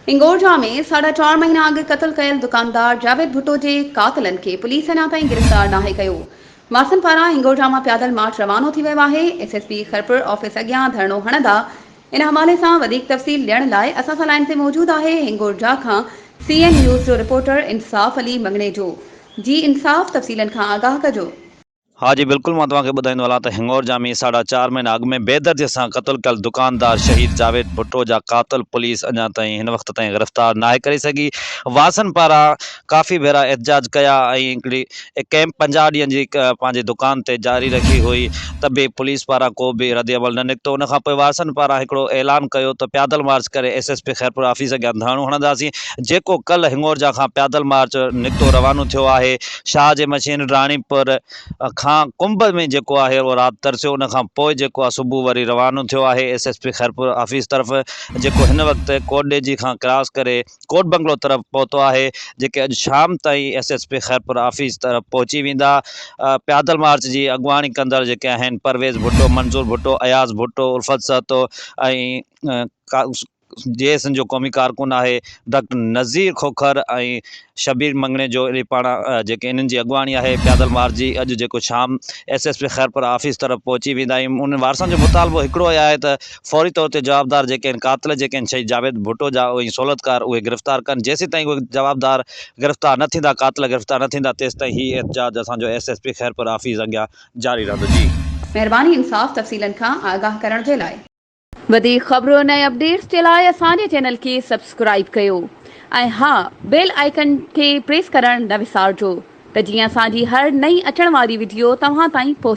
هنگورجا ۾ ساڍا چار مهينا اڳ قتل ڪيل دڪاندار جاويد ڀٽو جي قاتلن کي پوليس اڃا تائين گرفتار ناهي ڪيو، وارثن پاران هنگورجا مان پيادل مارچ روانو ٿي ويو آهي، S S P Khairpur office اڳيان ڌرڻو هڻندا، ان حوالي سان وڌيڪ تفصيل ڏيڻ لاء اسان سان لائين تي موجود آهي هنگورجا کان سي اين نيوز جو رپورٽر انصاف علي مڱڻيجو جي انصاف تفصيلن کان آگاهه ڪجو. ها جي بلڪل مان توهان کي ٻڌائيندو هلان ته هڱور جا ۾ ساڍا چار مهينا اڳ ۾ بيدردي سان قتل ڪيل دڪاندار شهيد جاويد ڀٽو جا قاتل پوليس اڃا تائين هن وقت تائين گرفتار ناهي ڪري سگهي واسن پاران ڪافي ڀيرا احتجاج ڪيا ۽ هڪڙي ڪئمپ پنجاهه ڏينهن جي پنهنجي دڪان تي جاري رکي هئي ته به پوليس پاران ڪو به رد عمل نه نڪتو ان کانپوء واسن پاران هڪڙو اعلان ڪيو ته پيادل مارچ ڪري S S P Khairpur office اڳيان ڌرڻو هڻنداسين جيڪو ڪلهه هڱور جا کان پيادل مارچ نڪتو روانو ٿيو آهي شاهه جي مشين راڻيپور کان ڪنڀ ۾ جيڪو آهي اهو رات ترسيو ان کان پوء جيڪو آهي صبح وري روانو ٿيو آهي S S P Khairpur office طرف جيڪو هن وقت ڪوٽ ڏيجي کان ڪراس ڪري ڪوٽ بنگلو طرف پهتو آهي جيڪي اڄ شام تائين S S P Khairpur office طرف پهچي ويندا پيادل مارچ جي اڳواڻي ڪندڙ جيڪي آهن پرويز ڀٽو منظور Bhutto Ayaz Bhutto Ulfat Sahito ۽ J S N جو قومي ڪارڪن آهي ڊاڪٽر نظير کوکر ۽ شبير مڱڻيجو اهي پاڻ جيڪي انهن جي اڳواڻي آهي پيادل مارچ جي اڄ جيڪو شام S S P Khairpur office طرف پهچي ويندا آهيون انهن وارثن جو مطالبو هڪڙو ئي آهي ته فوري طور تي جوابدار جيڪي آهن قاتل جيڪي آهن شهيد جاويد ڀٽو جا ۽ سهولتڪار اهي گرفتار ڪن جيسيتائين اهي جوابدار گرفتار نه ٿيندا قاتل گرفتار نه ٿيندا تيستائين هي احتجاج اسان جو S S P Khairpur office اڳيان جاري رهندو جي. مهرباني انصاف تفصيلن کان آگاهه ڪرڻ جي لاء. وڌيڪ خبرن ۽ اپڊيٽس جي لاء اسان جي چينل کي سبسڪرائيب ڪيو ۽ ها بيل آئيڪن کي پريس ڪرڻ نه وسارجو ته جيئن اسان جي هر نئين اچڻ واري وڊيو توهان تائين پهچي.